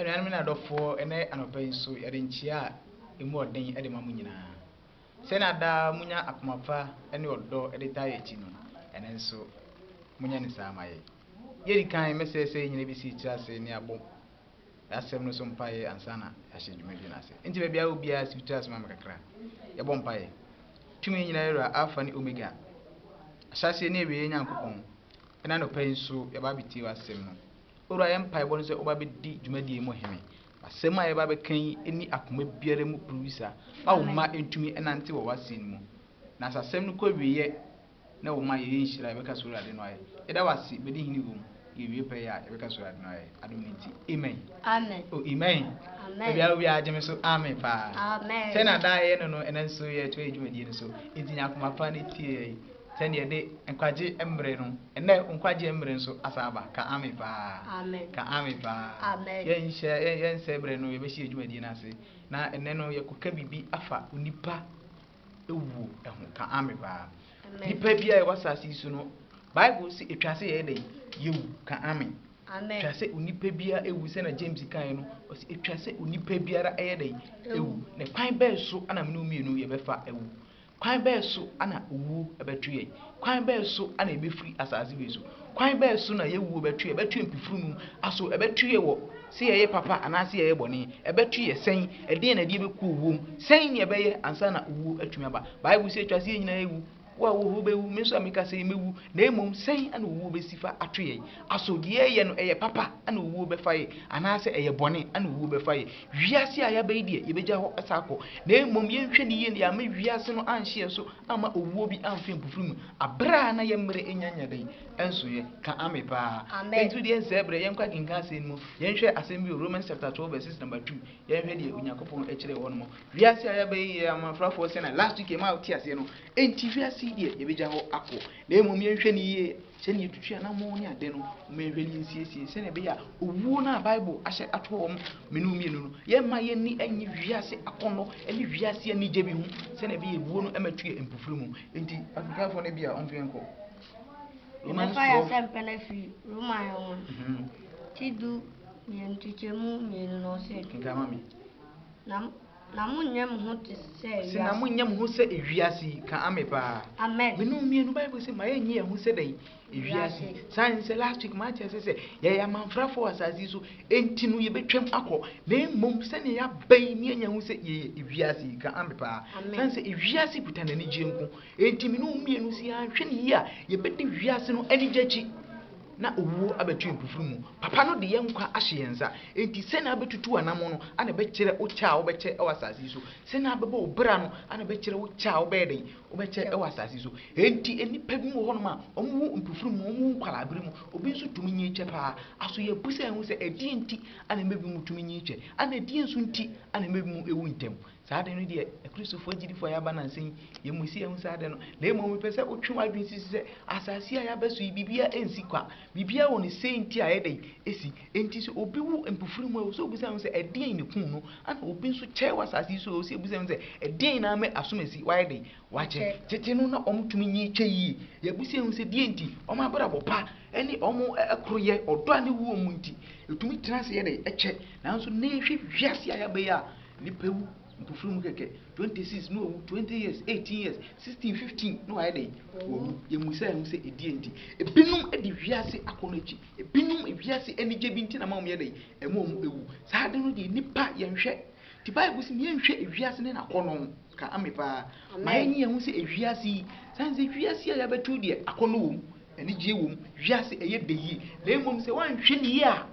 Anuanom ne adɔfoɔ, ɛnnɛ anɔpa yi nso yɛde nkyea a emu ɔden de ma mo nyinaa. Sɛnea daa munya akoma pa ne ɔdɔ de taa yɛn akyi no, ɛnnɛ nso monyɛ no saa mma yɛn. Deɛ ɛdi kan, mɛsrɛ sɛ yɛn nyinaa bɛsi tiri ase na yɛabɔ asɛm no so mpaeɛ ansa na yɛahyɛ dwumadie no ase. Enti baabi a wowɔ biara, si wo tiri ase ma me kakra. Yɛbɔ mpaeɛ. Tumi nyinaa Wura, Alfa ne Omega, Ahyɛaseɛ ne Awieeɛ Nyankopɔn, ɛnnɛ anɔpa yi nso yɛaba abɛtie w'asɛm no. Owura yɛ mpaebɔ no sɛ woba bɛdi dwumadie yi mu hene. Asɛm a yɛba abɛka yi nni akoma biara mu pruwisa ma wo mma ntumi nnante wɔ w'asen mu. Na sɛ asɛm no kɔ awieɛ na wo mma yɛyɛ nhyira a yɛbɛka sɛ Owurade no ayɛ. Yɛda wo ase, bɛdi hene wɔ mu, yɛwie pɛyɛ a yɛbɛka sɛ Owurade no ayɛ, adom no nti. Amen. Amen. Oh, amen. Amen. Baabi a wo biara gye me so amen paa. Amen. Sɛnea daa yɛyɛ no no, ɛnɛ nso yɛtoa yɛn dwumadie no so. Enti nya akoma pa na tie yɛn. Sɛnea yɛde nkwagye mmere no, ɛnnɛ nkwagye mmere nso asan aba. Ka Amen paa. Amen. Ka Amen paa. Amen. Yɛnhyɛ, yɛn, yɛnsɛe bere no, yɛbɛhyɛ yɛn dwumadie no ase. Na ɛnnɛ no, yɛkɔka biribi afa onipa ewuo ho. Ka Amen paa. Amen. Nipa bi a ɛwɔ asase yi so no, Bible si etwa sɛ yɛyɛ dɛn? Yewu. Ka Amen. Amen. Etwa sɛ onipa biara ewu sɛ na James kae no, ɔsi etwa sɛ onipa biara ɛyɛ dɛn? Ewu. Na kwan bɛn so na mene mmienu yɛbɛfa ewu? Kwan bɛn so na owuo bɛtwe yɛn? Kwan bɛn so na yɛbɛfiri asase wei so? Kwan bɛn so na yɛn wuo bɛtwe yɛn? Ɛbɛtwe yɛn mpofirim aso? Ɛbɛtwe yɛn wɔ sɛ yɛyɛ papa anaasɛ yɛyɛ bɔne? Ɛbɛtwe yɛn sɛn? Ɛdeɛn na ɛde yɛn bɛkɔ owuo mu? Sɛn na yɛbɛyɛ ansa na owuo atumi aba? Bible sɛ ɛtwa sɛ yɛn nyinaa yɛwu. Wo a wowɔ hɔ wobɛwu, me nso a meka sɛ yi mɛwu. Na mmom sɛn na owuo bɛsi fa atwe yɛn aso? Deɛ yɛyɛ no, ɛyɛ papa na owuo bɛfa yɛn anaasɛ ɛyɛ bɔne na owuo bɛfa yɛn? Wiase a yɛaba yi deɛ, yɛbɛgya hɔ asan akɔ, na mmom yɛnhwɛ no yie na yɛamma wiase no anhye yɛn so amma owuo bi amfe mpofiri mu, aberɛ a na yɛn mmerɛ nnya nnya dɛn nsoeɛ, ka ame paa. Amen. Nti wodeɛ nsɛe berɛ, yɛnkɔ akenkan asɛm no mu, yɛnhwɛ asɛm bi wɔ Romans chapter 12 verses number 2, yɛnhwɛ deɛ Onyankopɔn kyerɛɛ hɔ nom. Wiase a yɛaba yi yɛ amanfrafoɔ sɛnea last week yɛmaa wote aseɛ no, enti wiase yi deɛ yɛbɛgya hɔ akɔ, na mmom yɛnhwɛ no yie. Sɛnea etutu anammɔn ne ade no, momma yɛnhwɛ ne nsiesie sɛnea ɛbɛyɛ a owuo no a Bible ahyɛ ato wɔn mene wɔn mmienu no, yɛremma yɛn ani nnye wiase akɔnnɔ ne wiase anigye bi ho sɛnea ɛbɛyɛ a owuo no mmɛto yɛn mpofiri mu. Enti, Afrikafoɔ no bi a wɔmfa yɛn nkɔ Romans 12. Yɛbɛfa yɛn asɛmpɛ no afiri Roma nwoma mhm. ti du mmienu kyekyɛmu mmienu na ɔsɛ. Kenkan ma me. Na Na mo nyɛ mo ho te sɛ wiase. Ɔse na mo nyɛ mo ho sɛ wiase yi ka ame paa. Amen. Me no mmienu bible se ma yɛ nye yɛ ho sɛ dɛn wiase yi. Saa ne sɛ last week ma akyɛ sɛ sɛ yɛyɛ amanfrafo wɔ asase yi so enti no yɛbɛtwam akɔ na mmom sɛnea yɛaba yi ne anya ho sɛ yɛyɛ wiase yi ka ame paa. Saa ne sɛ wiase kuta n'anigyeɛ nko enti me no mmienu si anhwɛ ne yie a yɛbɛdi wiase no anigye akyi. na owuo abɛto yɛn mpofirim mu. Papa no de yɛn nkwa ahyɛ yɛn nsa. Enti sɛn na wobɛtutu w'anammɔn no na ɛbɛkyerɛ wo kyɛ a wobɛkyɛ wɔ asase yi so? Sɛn na wobɛbɔ wo bra no na ɛbɛkyerɛ wo kyɛ a wobɛyɛ dɛn? Wobɛkyɛ wɔ asase yi so. Enti nnipa binom wɔ hɔnom a, wɔwo mpofirim mu, wɔwo nkwadaa-bere mu. Obi nso tumi nyin kyɛ paa. Aso yɛabisa yɛn ho sɛ, ɛdeɛn nti na nnipa binom tumi nyin kyɛ, na ɛdeɛn nso nti na nnipa binom wu ntɛm? Saa ade no deɛ, Akristofoɔ agyidifo a yɛaba nnansa yi, yɛn mu si a ɛhu saa ade no. Na mmom mepɛ sɛ wotwe w'adwene si so sɛ, asase a yɛaba so yi, biribiara nsi kwa. Biribiara wɔ ne sei nti a ɛyɛ dɛn? Esi. Enti sɛ obi wu mpofirem a, ɛwɔ sɛ obisa ne ho sɛ, Ɛdeɛn na ekum no? Ɛnna obi nso kyɛe wɔ asase yi so a, ɛwɔ sɛ yebisa yɛn ho sɛ, Ɛdeɛn na ama asomasi wayɛ dɛn? Wakyɛ. Tete no, na wɔtumi nyi kyɛ yiye. Yebisa yɛn ho sɛ, Deɛn nti? Wɔn abrabɔ pa ne wɔn koroyɛ, ɔdɔ a na ɛwɔ wɔn mu nti, etumi tena ase yɛ dɛn? Kyɛ. Nanso nnɛ yɛhwɛ wiase a yɛaba yi a, Nipa wu mpofra mu kɛkɛ twenty six na owu twenty years eighteen years sixteen fifteen na wayɛ dɛn owu yɛmu sɛ ɛho sɛ ɛdi ɛnti ebinom de wiase akɔ no akyi ebinom wiase anigye bi nti na ma wɔn yɛ dɛn ɛma wɔn ewu saa ade no deɛ nipa yɛnhwɛ ti baibu si yɛnhwɛ ewiase ne n'akɔ no ka ame paa ma yɛn nyɛ ho sɛ ewiase yi san sɛ wiase a yɛabɛtu deɛ akɔ no wɔm anigye wɔm wiase ɛyɛ dɛ yie na mmom sɛ wɔanhwɛ ne yie a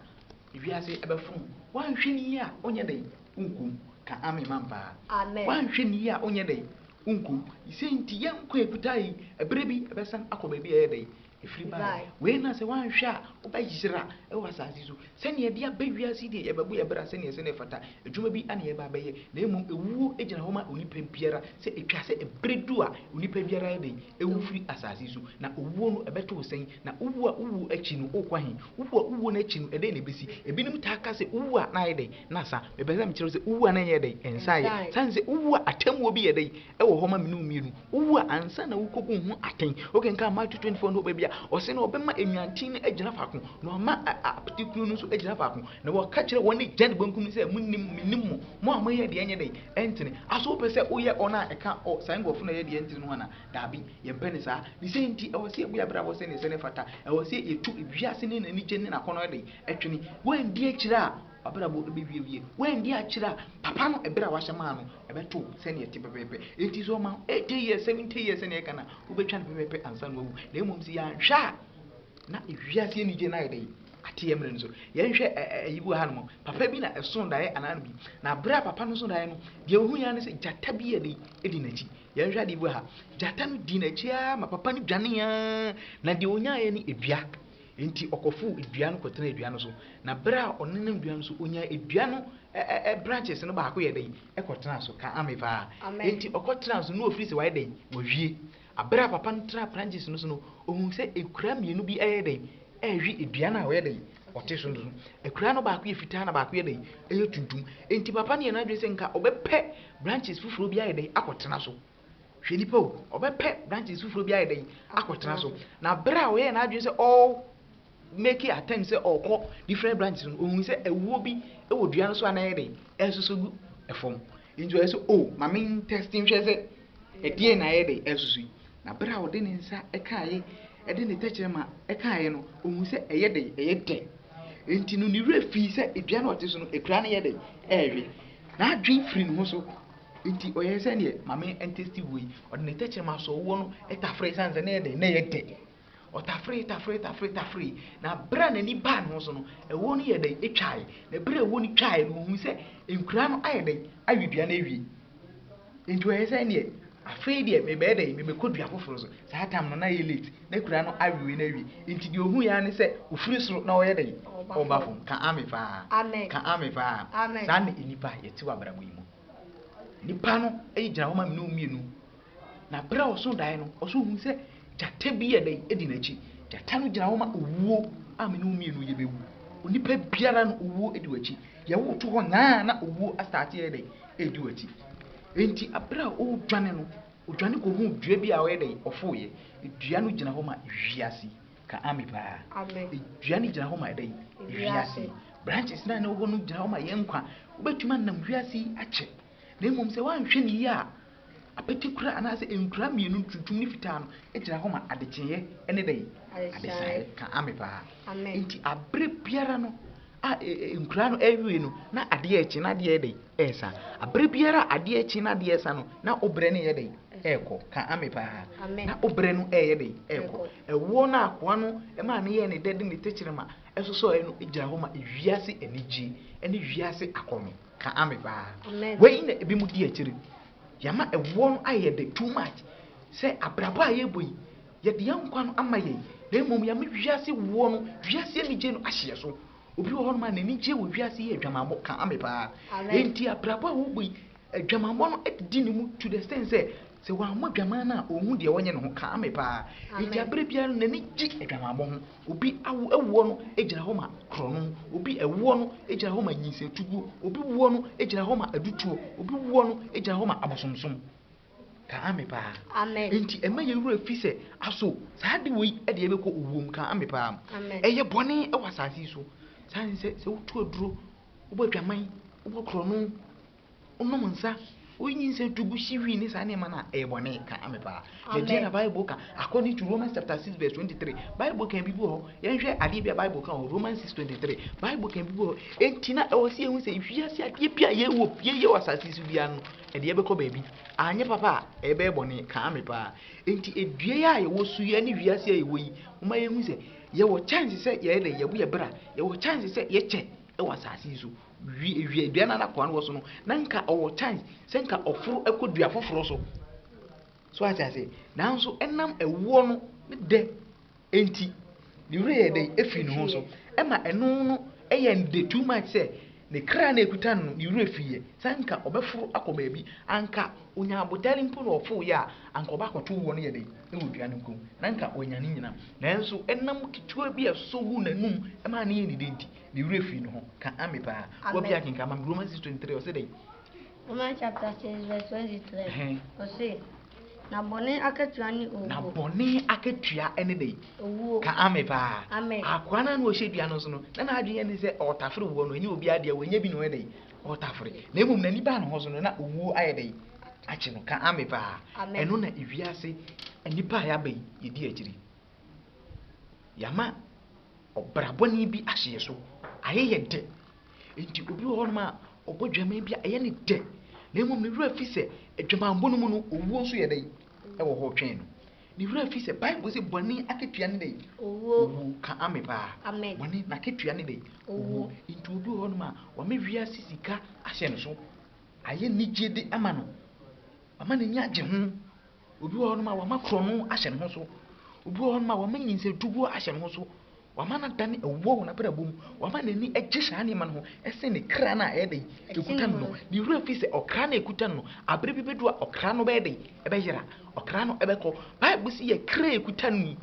Wiase bɛfom wo. Woanhwɛ no yie a wonyɛ dɛn? Wonku wo. Ka Amen ma me paa. Amen. Woanhwɛ no yie a wonyɛ dɛn? Wonku wo. Yi sei nti yɛn nkwa a ɛkutaa yi, ɛberɛ bi ɛbɛsan akɔ baabi a ɛyɛ dɛn? Ɛfiri baeɛ. Wei na sɛ woanhwɛ a wobɛyera wɔ asase so. Sɛdeɛ yɛde aba wiase yi deɛ yɛbɛbɔ yɛn bra sɛdeɛ ɛsɛ na ɛfata. Adwuma bi na yɛreba abɛyɛ, na mmom ewuo gyina hɔ ma onipa biara, sɛ etwa sɛ bere du a onipa biara yɛ dɛn? Ewu firi asase so. Na owuo no, ɛbɛto wo sɛn? Na wowu a wowuo akyi no, wokɔ ahe? Wowu a wowuo no akyi no, ɛdɛn na ɛbɛsi? Ebinom taa ka sɛ, Wowu a na ayɛ dɛn? Na asa. Mepɛ sɛ mekyerɛ wo sɛ, wowu a na ɛnyɛ dɛn? Ɛnsaeɛ. Sane sɛ, wowu a atemmuo bi yɛ dɛn? wɔ hɔ ma me ne wo mmienu. Wowu a, ansa na wokɔbu wo ho atɛn. Wokenkan Matthew 24 no hɔ baabi a, ɔse na ɔbɛma nnwanten no agyina faako, na wama apete kunu no nso agyina faako. Na wɔka kyerɛ wɔn nifa ne bankum no sɛ, Monnim, mennim mo, mo a moyɛ deɛ ɛnyɛ dɛn? Ɛntene. Aso wopɛ sɛ woyɛ ɔn a ɛka ɔ, saa nkurɔfo no a ɛyɛ deɛ ɛntene no ho anaa? Daabi, yɛmpɛ no saa. Ne saa nti, ɛwɔ sɛ yɛbɔ yɛn abrabɔ sɛdeɛ ɛsɛ na ɛfata. Ɛwɔ sɛ yɛtu wiase no n'anigye ne n'akɔnnɔ dɛn? Twene. Woanndi akyire a, W'abrabɔ bɛwiawie. Woanndi akyerɛ a, papa no ɛberɛ a wahyɛ maa no ɛbɛto wo sɛdeɛ ɛte pɛpɛɛpɛ. Enti sɛ ɔma wo eighty years, seventy years sɛdeɛ yɛka no a, wobɛtwa no pɛpɛɛpɛ ansa na wawu. Na mmom sɛ yɛanhwɛ a, na wiase anigyeɛ no ayɛ dɛ yi ate yɛn mmerɛ no so. Yɛnhwɛ ɛ ɛ ayi bi wɔ hanom, papa bi na ɛsoo daeɛ anaa no bi. Na berɛ a papa no soo daeɛ no, deɛ ɔhuiɛ ara ne sɛ gyata bi yɛ dɛ yi di n'akyi. Yɛnhwɛ adeɛ bi wɔ ha, gyata no dii n'akyi ara ma papa no dwaneeɛ ara, na deɛ ɔnyaaeɛ ne dua. Enti ɔkɔfow dua no kɔtenaa dua no so, na bere a ɔnenam dua no so, onyaa dua no branches no baako yɛɛ dɛn? Ɛkɔtenaa so. Ka amen paa. Enti ɔkɔtenaa so, na wafiri sɛ wayɛ dɛn? Wawie. Bere a papa no tenaa branches no so no, ohuu sɛ akuraa mmienu bi reyɛ dɛn? Rewe dua no a ɔyɛ dɛn? Ɔte so no so. Akuraa no baako yɛ fitaa na baako yɛ dɛn? Ɛyɛ tuntum. Enti papa no yɛɛ n'adwene sɛ nka ɔbɛpɛ branches foforo bi ayɛ dɛn? Akɔtena so. Hwɛ nipa o, ɔbɛpɛ branches foforɔ bi ayɛ dɛn akɔtena so. Na berɛ a ɔyɛɛ n'adwene sɛ ɔɔ make attempt sɛ ɔɔkɔ different branches no, ɔhui sɛ awuo bi wɔ dua no so a na ɛyɛ dɛn ɛresoso gu fam. Nti ɔyɛ sɛ o, oh, ma me ntɛsti nhwɛ sɛ ɛdeɛn na ɛyɛ dɛn ɛresoso yi. Na berɛ a ɔde ne nsa kaeɛ, ɛde ne tɛkyerɛma kaeɛ no, ɔhui sɛ ɛyɛ dɛn, ɛyɛ dɛ. Nti no ne werɛ fii sɛ dua no ɔte so no, akura no yɛ dɛn ɛrewe. N'adwene firi ne ho so. Enti ɔyɛɛ sɛ deɛ Maame ɛntɛsti wɔ yi, ɔde ne tɛkyerɛma sɔɔ woɔ no taferee ɛsiane sɛ na ɛyɛ dɛn? Na ɛyɛ dɛ. Ɔtaferee, taferee, taferee, taferee, na berɛ a n'ani baa ne ho so no, ɛwoɔ no yɛɛ dɛn? Ɛtwaeɛ. Na berɛ a ɛwoɔ no twaeɛ no, ɔhuu sɛ nkuraa no ayɛ dɛn? Awe dua no awie. Enti ɔyɛɛ sɛ ɛnneɛ, afei deɛ mebɛyɛ dɛn? Mebɛkɔ dua foforɔ so. Saa time no, na ɛyɛ late, na akuraa no awewe no awie. Enti deɛ ɔhuiɛ ara ne sɛ, ɔfiri soro na ɔyɛ dɛn? Ɔreba fam. Ka Amen paa. Ka Amen paa. Saa na nnipa yɛte wɔ abrabɔ yi mu. Nipa no gyina hɔ ma me ne wo mmienu. Na berɛ a ɔso daeɛ no, ɔso hunu sɛ gyata bi yɛ dɛn di n'akyi. Gyata no gyina hɔ ma owuo a me ne wo mmienu yɛbɛwu. Onipa biara no owuo di w'akyi. Yɛwo wo to hɔ nyaa na owuo asaate yɛ dɛn ɛredi w'akyi. Enti berɛ a ɔredwane no, ɔdwane kɔhuu dua bi a ɔyɛ dɛn ɔfoeɛ. Dua no gyina hɔ ma wiase. Ka Ame paa. Dua no gyina hɔ ma dɛn? Wiase yi. Branches no a na ɛwɔ hɔ no gyina hɔ ma yɛn nkwa. Wobɛtumi anam wiase yi akyɛ, na mmom sɛ woanhwɛ no yie a, apete kura anaasɛ nkura mmienu, tuntum ne fitaa no, gyina hɔ ma adekyeeɛ ne dɛn? Adesaeɛ. Ka Ame paa. Enti aberɛ biara no, A Nkura no awie no, na adeɛ rekye na adeɛ yɛ dɛn? Ɛresa. Aberɛ biara a adeɛ rekye na adeɛ resa no, na wo berɛ no reyɛ dɛn? Ɛrekɔ. Ka ame paa. Na wo berɛ no reyɛ dɛn? Ɛrekɔ. Ɛwoɔ no a akoa no maa no yɛɛ ne dɛ de ne tɛkyerɛma sosɔeɛ no gyina hɔ ma wiase anigyeɛ ne wiase akɔnnɔ. Ka ame paa. Wei na ebinom di akyire. Yɛama ɛwoɔ no ayɛ dɛ too much. Sɛ abrabɔ a yɛrebɔ yi, Yɛde yɛn nkwa no ama yɛn, na mmom yɛama wiase woɔ no, wiase anigye no ahye yɛn so. Obi wɔ hɔnom a n'ani gye wɔ wiase yi adwamammɔ ka ame paa. Enti abrabɔ a ɔwɔ yi, adwamammɔ no adidi ne mu to the extent sɛ, sɛ wammɔ adwaman no a, ɔnhu deɛ ɔnyɛ ne ho ka ame paa. Enti aberɛ biara no n'ani gye adwamammɔ ho. Obi awo awoɔ no gyina hɔ ma korɔno, obi awoɔ no gyina hɔ ma nyinsatuguo, obi woɔ no gyina hɔ ma adutoɔ, obi woɔ no gyina hɔ ma abosomsom. Ka ame paa. Amen. Enti ɛmɛ yɛn wura fi sɛ aso saa de wei ɛde yɛbɛkɔ owuom ka ame paa. Amen. Ɛyɛ bɔne ɛwɔ asase yi so. Saa ne sɛ sɛ wotu aduro, wobɔ adwaman, wobɔ korɔno, wonom nsa, woyi nyinsɛn tu gu hyi hwii ne saa nneɛma no a ɛyɛ bɔne ka ame paa. Na deɛ na Bible ka according to Romans chapter 6 verse 23 Bible kan bi bi hɔ yɛnhwɛ adeɛ bi a Bible ka wɔ Romans 6 23 Bible kan bi bi hɔ enti na ɛwɔ sɛ yɛhu sɛ wiase adeɛ bi a yɛwɔ yɛyɛ wɔ asase so biara no Ɛde yɛbɛkɔ baabi. Anyɛ papa a, ɛbɛyɛ bɔne. Kaa me paa. Enti dua yi a yɛwɔ so yi ne wiase a yɛwɔ yi, momma yɛnhu sɛ yɛwɔ chance sɛ yɛyɛ dɛn? Yɛbɔ yɛn bra. Yɛwɔ chance sɛ yɛkyɛ wɔ asase yi so. Wi, dua no a na akoa no wɔ so no, na nka ɔwɔ chance sɛ nka ɔforo kɔ dua foforɔ so. So ate aseɛ? Nanso ɛnam ɛwoɔ no ne dɛ Enti, ne werɛ yɛɛ dɛn? Efii ne ho so. Ɛma ɛno no yɛɛ no dɛ too much sɛ ne kra a na ekuta no no, ne werɛ fiiɛ. Sɛ anka ɔbɛforo akɔ baabi, anka ɔnya abotare mpo na ɔforoeɛ a, anka ɔba akɔtow wɔ no yɛ dɛn? Wɔ dua no nko mu, na anka wanya ne nyinaa. Nanso nam ketewa bi a ɛsosɔ guu n'anom maa no yɛɛ no dɛ nti, ne werɛ fii ne ho. Ka Ame paa. W'abia kenkan ma me Romans six twenty three, ɔse dɛn? Romans chapter six verse twenty three, ɔse. Na bɔne akatua ne owuo. Na bɔne akatua ne dɛ. Owuo. Ka ame paa. Ame. Akoa no a na ɔhyɛ dua no nso no, na n'adwene ne sɛ ɔretafere woɔ no, ɛnyɛ obi adeɛ, wɔnyɛ bi na ɔyɛ dɛ, ɔretafere. Na mmom n'ani baa ne ho so no, na owuo ayɛ dɛ, akye no. Ka ame paa. Ame. Ɛno na ewiase nnipa a yɛaba yi yɛdi akyiri. Yɛama ɔbrabɔne bi ahyɛ yɛn so, ayɛ yɛn dɛ. Enti obi wɔ hɔnom a ɔbɔ dwamma bi a ɛyɛ no dɛ, na mmom ne werɛ fi sɛ adwamammɔ no mu no owuo nso yɛ dɛn? Ɛwɔ hɔ retwɛn no. Ne werɛ fi sɛ Bible se bɔne akatua ne dɛn? Owuo. Ka ame paa. Amen. Bɔne n'akatua ne dɛn? Owuo. Enti obi wɔ hɔnom a wama wiase sika ahyɛ ne so, ayɛ anigyede ama no, wama n'ani agye ho, Obi wɔ hɔnom a, wɔama korɔno ahyɛ ne ho so. Obi wɔ hɔnom a, wɔama nyinsatuguo ahyɛ ne ho so. Wɔama no adane awuo wɔ n'abrabɔ mu. Wɔama n'ani agye saa nneɛma no ho sene ne kra no a ɛyɛ dɛn? Ɛkuta no no. Ne werɛ fi sɛ ɔkra no a ɛkuta no no, aberɛ bi bɛdu a ɔkra no bɛyɛ dɛn? Ɛbɛyera. Ɔkra no bɛkɔ. Bible se yɛn kra a ɛkuta no yi,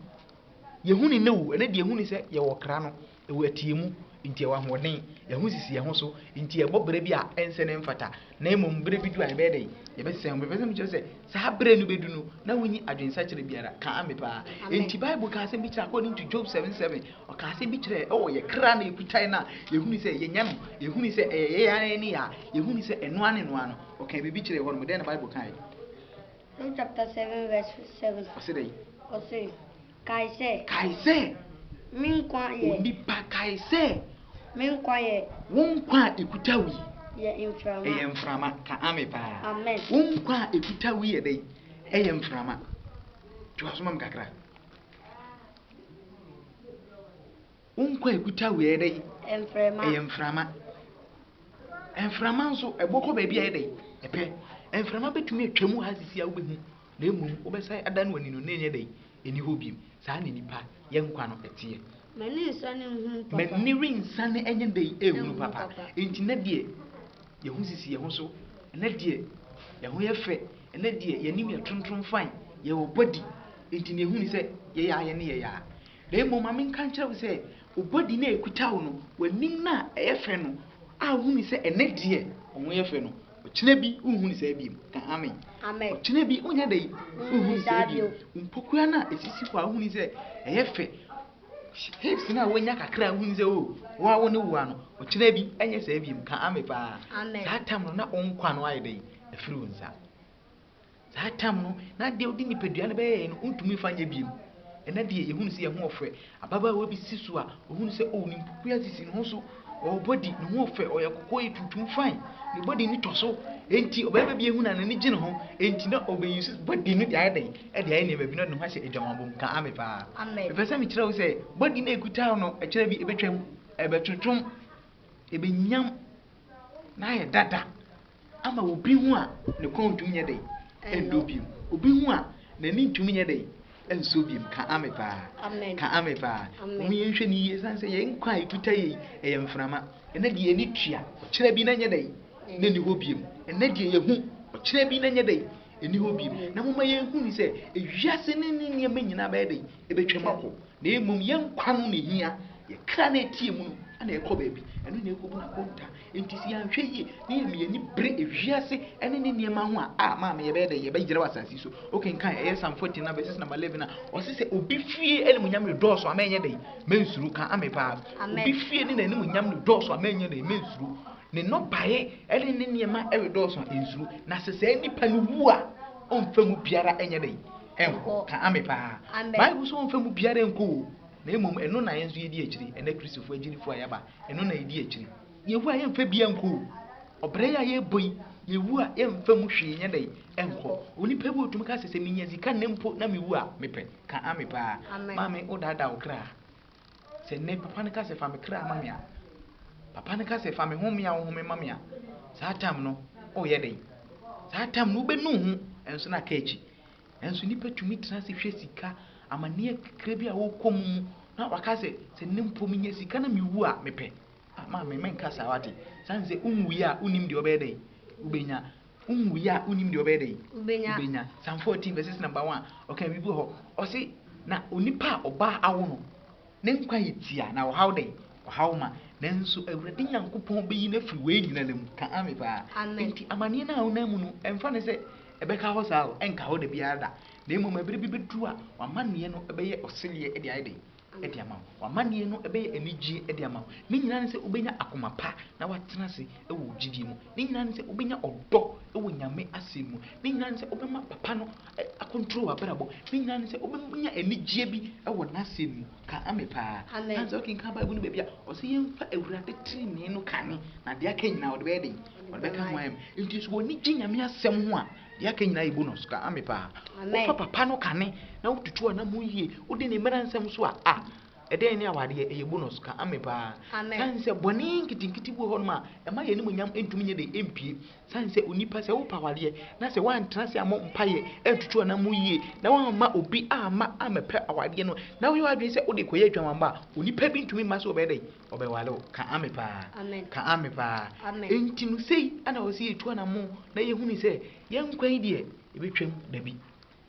yɛhu no nnɛ o, ɛnnɛ deɛ yɛhu no sɛ yɛwɔ ɔkra no. Ɛwɔ ɛteɛmu nti ɛwɔ ahoɔden, ɛho sisi ɛho so nti ɛbɔ berɛ bi a ɛnsɛ na ɛmfata, na mmom berɛ bi du a yɛbɛyɛ dɛn? Yɛbɛsesa ɛho. Mepɛ sɛ mekyerɛ sɛ saa berɛ no bɛdu no, na wonni adwensakyera biara. Ka ame paa. Enti Bible kaa asɛm bi kyerɛ according to Job 7:7, ɔkaa asɛm bi kyerɛ ɛwɔ yɛ kra na yɛkutae no a yɛhunu sɛ yɛnya no, yɛhunu sɛ ɛyɛ yɛn ara yɛn nneyɛɛ a yɛhunu sɛ ɛno ara ne ɛno ara no. Ɔkaa biribi kyerɛɛ hɔ nom. Dɛn na Bible kaeɛ? Job chapter 7 verse 7. Ɔse dɛn? Ɔse. Kae sɛ. Kae sɛ. Me nkwa yɛ. Onipa, kae sɛ. Me nkwa yɛ. Wo nkwa a ekuta wo yi. Yɛ mframa. Ɛyɛ mframa. Ka ame paa. Amen. Wo nkwa a ekuta wo yi yɛ dɛn? Ɛyɛ mframa. Toa so ma me kakra. Wo nkwa a ɛkuta wo yi ɛyɛ dɛn? Mframa. Ɛyɛ mframa. Mframa nso, ɛbɔ kɔ baabi a ɛyɛ dɛn? Ɛpɛ. Mframa bɛtumi atwa mu ha sisi a wobɛhu, na mmom wobɛsan ada no w'ani no na ɛnyɛ dɛn? Ɛnni hɔ bio. Saa na nnipa, yɛn nkwa no ɛteɛ. M'ani nsane nhunu papa. M'ani rensane nyɛ dɛn? Nhunu papa. Enti nnɛ deɛ, yɛn ho sisi yɛn ho so. Nnɛ deɛ, yɛn ho yɛ fɛ. Nnɛ deɛ, yɛn anim yɛ trontrom fann. Yɛwɔ body. Enti deɛ ɛhu ne sɛ, yɛyɛ a yɛne yɛyɛ a. Na mmom ma menka nkyerɛ wo sɛ, wo bɔdi no a ɛkuta wo no, w'anim no a ɛyɛ fɛ no, a wohu no sɛ ɛnnɛ deɛ ɔho yɛ fɛ no, ɔkyena bi wonhu no saa bio. Ka amen. Amen. Ɔkyena bi wonya dɛn? Wonhu no saa bio. Wo mpokua no a ɛsisi hɔ a wohu no sɛ ɛyɛ fɛ, hips no a wonya kakra a wohu no sɛ o, oh, wo a wo ne woa no, ɔkyena bi ɛnyɛ saa bio. Ka amen paa. Saa tam no na wo nkwa no ayɛ dɛn? Afiri wo nsa. Saa tam no, na adeɛ a wode nipadua no bɛyɛeɛ no, wontumi mfa nyɛ bio. Ɛnnɛ deɛ, yɛhunu sɛ yɛn ho ɔfrɛ. Ababaawa bi si so a, ɔhunu sɛ, oh, ne mpokua sisi ne ho so. Ɔwɔ body, ne ho ɔfɛ, ɔyɛ kɔkɔɔ, tuntum, fine. Ne body no tɔ so. Enti ɔbarima bi ahunu a n'ani gye ne ho, enti na ɔbɛ use body no de ayɛ dɛn? De ayɛ nneɛma bi na ɔde ne ho ahyɛ adwamammɔ mu. Ka ame paa. Mepɛ sɛ mekyerɛ wo sɛ, body no a ɛkuta wo no, ɛkyerɛ bi ɛbɛtwam, ɛbɛtwotwom, ɛbɛnyam, na ayɛ dada. ama obi ho a ne kɔn ntumi nyɛ dɛn ɛndɔ biom obi ho a n'ani ntumi nyɛ dɛn ɛnsɔ biom ka ame paa ka ame paa mo yɛn hwɛ ne yie san sɛ yɛn nkwa a etuta yɛ yi ɛyɛ mframa ɛnɛ deɛ yɛn tua ɔkyerɛ bi na nyɛ dɛn na ni hɔ biom ɛnɛ deɛ yɛ ho ɔkyerɛ bi na nyɛ dɛn ɛni hɔ biom na mo ma yɛn hu ni sɛ ewiase ne ne nneɛma nyinaa bɛyɛ dɛn ebetwa mu akɔ Na mmom yɛn nkwa no na ehia, yɛn kra na ɛteɛ mu no na ɛkɔ baabi, ɛno na ɛkɔbu no akonta. Enti sɛ yɛanhwɛ yie na yɛma yɛn ani bere ewiase ne ne nneɛma ho a, a maame yɛbɛyɛ dɛ yɛbɛyera wɔ asase so. Wokenkan ɛyɛ Psalm 14 na verses number 11 a, ɔse sɛ obi fie animuonyam redɔɔso a mɛnyɛ dɛn? Mensuro. Ka ame paa. Amen. Obi fie ne n'animuonyam redɔɔso a mɛnyɛ dɛn? Mensuro. Ne nnɔbaeɛ ne ne nneɛma redɔɔso a nsuro. Na sɛ saa nipa no wu a, ɔmfa mu biara nyɛ dɛn? Ɛnkɔ. Ka ame paa. Amen. Bible so ɔmfa mu biara nkɔ o, na mmom ɛno na yɛn nso yɛdi akyiri, ɛnnɛ Kristofo agyidifo a yɛaba, ɛno na yɛdi akyiri. Yehowa yɛmfa biara nkɔ o. Ɔbrɛ yi a yɛrebɔ yi, Yehowa yɛmfa mu hwee nyɛ dɛn? Ɛnkɔ. Onipa bi otumi ka sɛ, sɛ minya sika nnɛ mpo na mewu a, mepɛ. Ka ame paa. Amen. Maame, wodaadaa wo kra. Sɛ nnɛ papa no ka sɛ fa me kra ma me a, papa no ka sɛ fa me home a wohome ma me a, saa tam no woyɛ dɛn? Saa tam no wobɛnu ho nso na aka akyi. Nanso nnipa tumi tena ase hwɛ sika, amanneɛ kakra bi a wokɔ mu mu na waka sɛ, sɛ nnɛ mpo menya sika na mewu a, mepɛ. Ah, maame, menka saa wate. Sane sɛ wonwui a, wonnim deɛ wobɛyɛ dɛn? Wobɛnya. Wonwui a, wonnim deɛ ɔbɛyɛ dɛn? Wobɛnya. Wobɛnya. Psalm 14 verses number 1, ɔka biribi wɔ hɔ. Ɔse, na onipa a ɔbaa awo no, ne nkwa yɛ tia, na ɔhaw dɛn? Ɔhaw ma. Nanso Awurade Nyankopɔn bɛyi no afiri wei nyinaa mu. Ka ame paa. Amen. Enti amanneɛ no a wonam mu no, ɛmfa no sɛ ɛbɛka hɔ saa o, ɛnka hɔ da biara da. Na mmom ɛberɛ bi bɛduru a, w'amanneɛ no bɛyɛ ɔseleɛ de ayɛ dɛn? de ama wo. W'amanneɛ no bɛyɛ anigyeɛ de ama wo. Ne nyinaa ne sɛ wobɛnya akoma pa na woatena ase wɔ wo gyidie mu. Ne nyinaa ne sɛ wobɛnya ɔdɔ wɔ Nyame asɛm mu. Ne nyinaa ne sɛ wobɛma Papa no akɔntrol w'abrabɔ. Ne nyinaa ne sɛ wobɛnya anigyeɛ bi wɔ N'asɛm mu. Ka Ame paa. Amen. Sɛ wokenkan Bible no baabi a, ɔse yɛmfa Awurade trenee no kane, na deɛ aka nyinaa ɔde bɛyɛ den? Ɔde bɛka ho ayɛ ma. Enti sɛ w'ani gye Nyame asɛm ho a, Deɛ aka nyinaa yɛ bonus ka ame paa. Wofa papa no kane na wotutu anamon yie, wodi ne mmara nsɛm so a, ah, ɛdɛn ne awadeɛ, ɛyɛ bonus ka ame paa. Sane sɛ bɔne nketenkete bi wɔ hɔnom a, ɛma yɛn animuonyam ntumi nyɛ dɛ mpue. Sane sɛ onipa, sɛ wopɛ awadeɛ na sɛ woantena ase ammɔ mpaeɛ antutu anamon yie na woamma obi amma ammɛpɛ awadeɛ no na woyɛ w'adwene sɛ wode rekɔyɛ adwamamma a, onipa bi ntumi mma sɛ ɔbɛyɛ dɛn? Ɔbɛware wo. Ka ame paa. Amen. Ka ame paa. Amen. Enti no sei ana ɔsɛ yɛtu anammo na yɛhunu sɛ yɛn nkwa yi deɛ ɛbɛtwam dabi.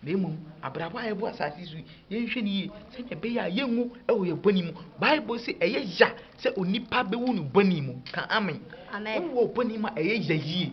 Na mmom abrabɔ a yɛbɔ asase so yi yɛnhwɛ no yie sɛdeɛ ɛbɛyɛ a yɛnwu wɔ yɛn bɔne mu. Bible se ɛyɛ ya sɛ onipa bɛwu no bɔne mu. Ka ame. Amen. Wowɔ bɔne mu a ɛyɛ ya yie.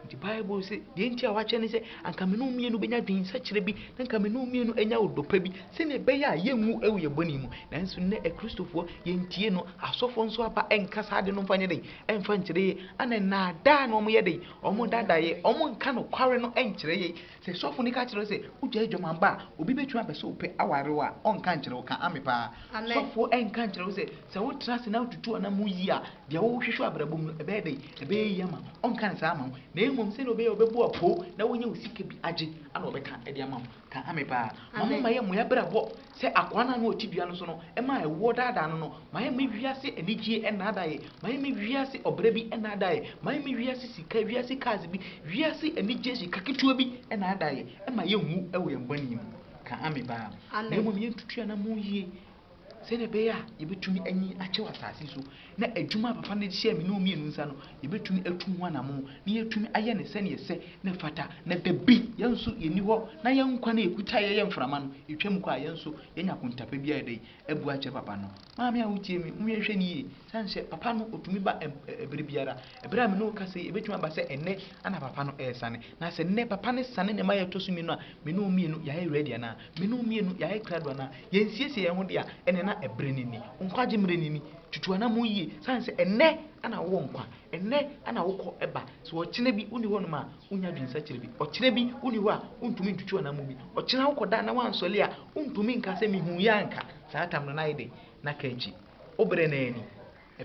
Nti Bible se, deɛ nti a wakyɛ ne sɛ, anka me ne wo mmienu bɛnya adwensakyera bi, na anka me ne wo mmienu anya ɔdɔ pa bi, sɛnea ɛbɛyɛ a yɛnwu wɔ yɛn bɔne mu. Nanso nnɛ Akristofoɔ, yɛntie no, asɔfoɔ nso aba nka saa ade no mfa nyɛ dɛn? Ɛmfa nkyerɛ yɛn. Ana nnaadaa na wɔyɛ dɛn? Wɔdadaeɛ, wɔnka nokware no nkyerɛ yɛn. Sɛ sɔfo no ka kyerɛ wo sɛ wogyae aguamanbɔ a, obi betumi apɛ sɛ ɔpɛ aware wo a, ɔnka nkyerɛ wo? Ka Ame paa. Sɔfo nka nkyerɛ wo sɛ, sɛ wotra ase na wotutu w'anam mu yiye a, deɛ wohwehwɛ wɔ abrabɔ mu no, ɛbɛyɛ dɛn? Ɛbɛyɛ yiye ama wo? Ɔnka no saa mma wo, na mmom sɛnea ɔbɛyɛ a ɔbɛbu wo apoo na woanya wo sika bi agye a na ɔbɛka de ama wo. Ka Ame paa. Momma yɛmmɔ yɛn abrabɔ Sɛ akoa no a na ɔte dua no so no maa ɛwoɔ daadaa no no, mayɛ me wiase anigyeɛ nnaadaeɛ, mayɛ me wiase ɔbrɛ bi nnaadaeɛ, mayɛ me wiase sika, wiase cars bi, wiase anigyeɛ sika ketewa bi nnaadaeɛ, ɛmma yɛnwu wɔ yɛn bɔne mu. Ka Amen paa. Na mmom yɛntutu yɛn anammɔn yie sɛdeɛ ɛbɛyɛ a yɛbɛtumi anyin akyɛ wɔ asase yi so. na adwuma a papa no de hyɛɛ me ne wo mmienu nsa no, yɛbɛtumi atu ho anammɔn, na yɛatumi ayɛ no sɛnea ɛsɛ na ɛfata, na dabi, yɛn nso yɛnni hɔ, na yɛn nkwa no a ɛkuta yɛn yɛ mframa no, ɛtwam kɔ a, yɛn nso yɛanya akontapa bi a yɛde abu akyerɛ papa no. Maame a wotie me, monhwɛ no yie, sane sɛ papa no ɔtumi ba ɛberɛ biara, Bere a me ne wo kasa yi, ebetumi aba sɛ ɛnnɛ na papa no resane. Na sɛ nnɛ papa no sane ne mma a ɛtɔ so mmienu a, me ne wɔn mmienu yɛayɛ ready anaa? Me ne wo mmienu yɛayɛ krado anaa? Yɛansiesie yɛn ho de a, ɛnneɛ na ɛbere no ni. Wo nkwagye mmere no ni. Tutu anammɔn yie, sane sɛ ɛnnɛ na wowɔ nkwa. Ɛnnɛ na wokɔ ba. Sɛ ɔkyena bi wonni hɔnom a, wunnya adwensakyera bi. Ɔkyena bi wonni hɔ a, wuntumi ntutu anammɔn bi. Ɔkyena wokɔda na woansɔre a, wuntumi nka sɛ mihuiɛ anka. Saa tam no, na ayɛ dɛn? Na ka akyi. Wo bere no ara ni.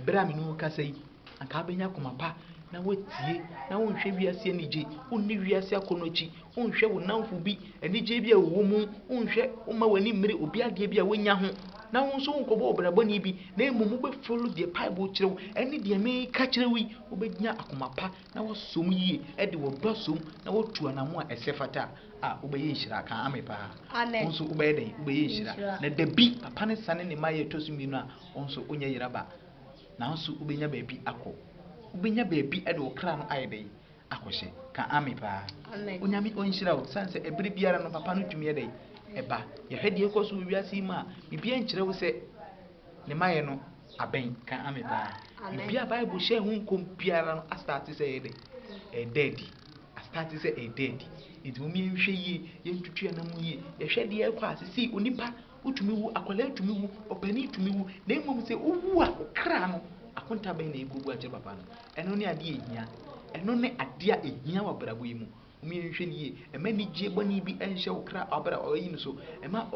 Bere a me ne wo rekasa yi, anka wobenya koma pa na woatie, na wonhwɛ wiase anigye, wonni wiase akɔnnɔ akyi, wonhwɛ wo nnamfo bi anigye bi a wɔwɔ mu, wonhwɛ, womma w'ani mmere obi adeɛ bi a wanya ho, na wo nso wonkɔbɔ ɔbrabɔne bi, na mmom wobɛ follow deɛ Bible kyerɛ wo ne deɛ mereka kyerɛ wo yi, wobenya akoma pa na woasom yie de w'ɔdɔ asom na woatu anamo a ɛsɛ fata a, a wobɛyɛ nhyira. Ka Ame paa. Wo nso wobɛyɛ dɛn? Wobɛyɛ nhyira. Na dabi, papa no sane ne mmaeɛ ɛtɔ so mmienu a, Wo nso wonyɛ yera ba, nanso wobɛnya baabi akɔ. Wobɛnya baabi de wo kra no ayɛ dɛn? Akɔhyɛ. Ka Amen paa. Onyame ɔnhyira wo. Sane sɛ ɛbere biara no papa no tumi yɛ dɛn? Ɛba. Yɛhwɛ deɛ ɛkɔ so wɔ wiase yi mu a, biribiara nkyerɛ wo sɛ ne maɛ no abɛn. Ka Amen paa. Biribi a Bible hyɛɛ ho nkɔm biara no astate sɛ ɛyɛ dɛn? Ɛreda adi. Astate sɛ ɛreda adi. Nti mom yɛnhwɛ yie, yɛntutu yɛn anam yie, yɛhwɛ deɛ ɛrekɔ a sesei onipa Wotumi wu, akwadaa tumi wu, ɔpanin tumi wu, na mmom sɛ wowu a, wo kra no, akonta bɛn na ɛrekɔgu akyerɛ papa no? Ɛno ne adeɛ a ɛhia. Ɛno ne adeɛ a ɛhia wɔ abrabɔ yi mu. Mom yɛnhwɛ no yie. Mma anigyeɛ bɔne bi nhyɛ wo kra abra ɔyi no so. Mma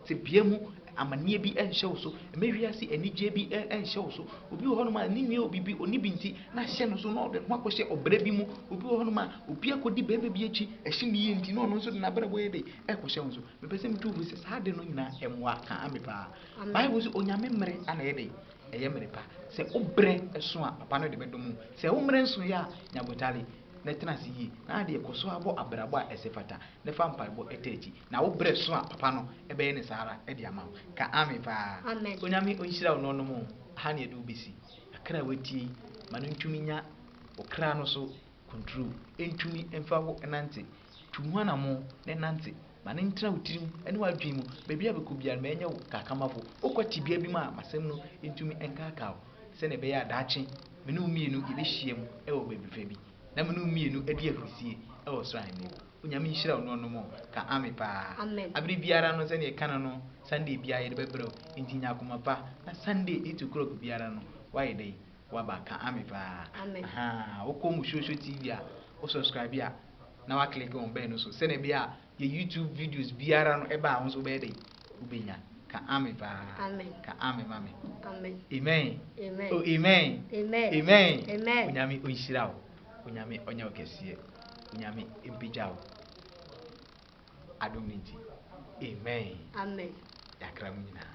tebea mu amanneɛ bi nhyɛ wo so. Mma wiase anigyeɛ bi nhyɛ wo so. Obi wɔ hɔnom a ne nua obi bi ɔni bi nti na ahyɛ no so na ɔde ne ho akɔhyɛ ɔbra bi mu. Obi wɔ hɔnom a obi akɔdi barima bi akyi, ɛhye ne yie nti na ɔno nso de n'abrabɔ yɛ dɛ ɛrekɔhyɛ wo so. Mepɛ sɛ metu wo fo sɛ saa ade no nyinaa mmoa kaa me paa. Bible sɛ onyame mmere ana ɛyɛ dɛn? Ɛyɛ mmere pa. Sɛ wo berɛ so a, papa no de bɛdom wo. Sɛ wo mmerɛ nsoeɛ a, nya botare na tena ase yie. Na adeɛ, kɔ so ara bɔ abrabɔ a ɛsɛ fata na fa mpaebɔ taa akyi. Na wo berɛ so a, papa no bɛyɛ no saa ara de ama wo. Ka amen paa. Onyame ɔnhyira wo na ɔnom wo. Ɛha na yɛde wo bɛsi. Akra a watie yi, ma no ntumi nya wo kra no so Kunturu ntumi mfa wo nnante. Tu ho anammɔn na nante. Ma no ntena wo tirim ne w'adwene mu. Baabi a bɛkɔ biara no, mɛnyɛ wo kakamafo. Wokɔ tebea bi mu a, m'asɛm no ntumi nkaakaa wo, sɛnea ɛbɛyɛ a daakye me ne wo mmienu yɛbɛhyiam wɔ baabi fɛ bi, na me ne wo mmienu adi ahurisie wɔ ɔsoro Ahenni hɔ. Onyame nhyira wo nuanom o. Ka Amen paa. Bere biara no, sɛnea yɛka no no, Sunday biara yɛde bɛbrɛ wo. Enti nya akoma pa, na Sunday eight o'clock biara no, woayɛ dɛn? Waba ka ame paa. Amen. Ahaa wokɔ Musuosuo TV a wo subscribe a na wa click on bell no so sɛnea ɛbɛyɛ a yɛ YouTube videos biara no ɛba a wo nso wobɛyɛ dɛn wobɛnya ka ame paa Amen. ka ame ma me Amen. amen Amen. oh amen Amen. amen Amen. onyame ɔnhyira wo onyame ɔnyɛ wo kɛseɛ onyame mpagya wo adom no nti amen Amen. yɛakra mu nyinaa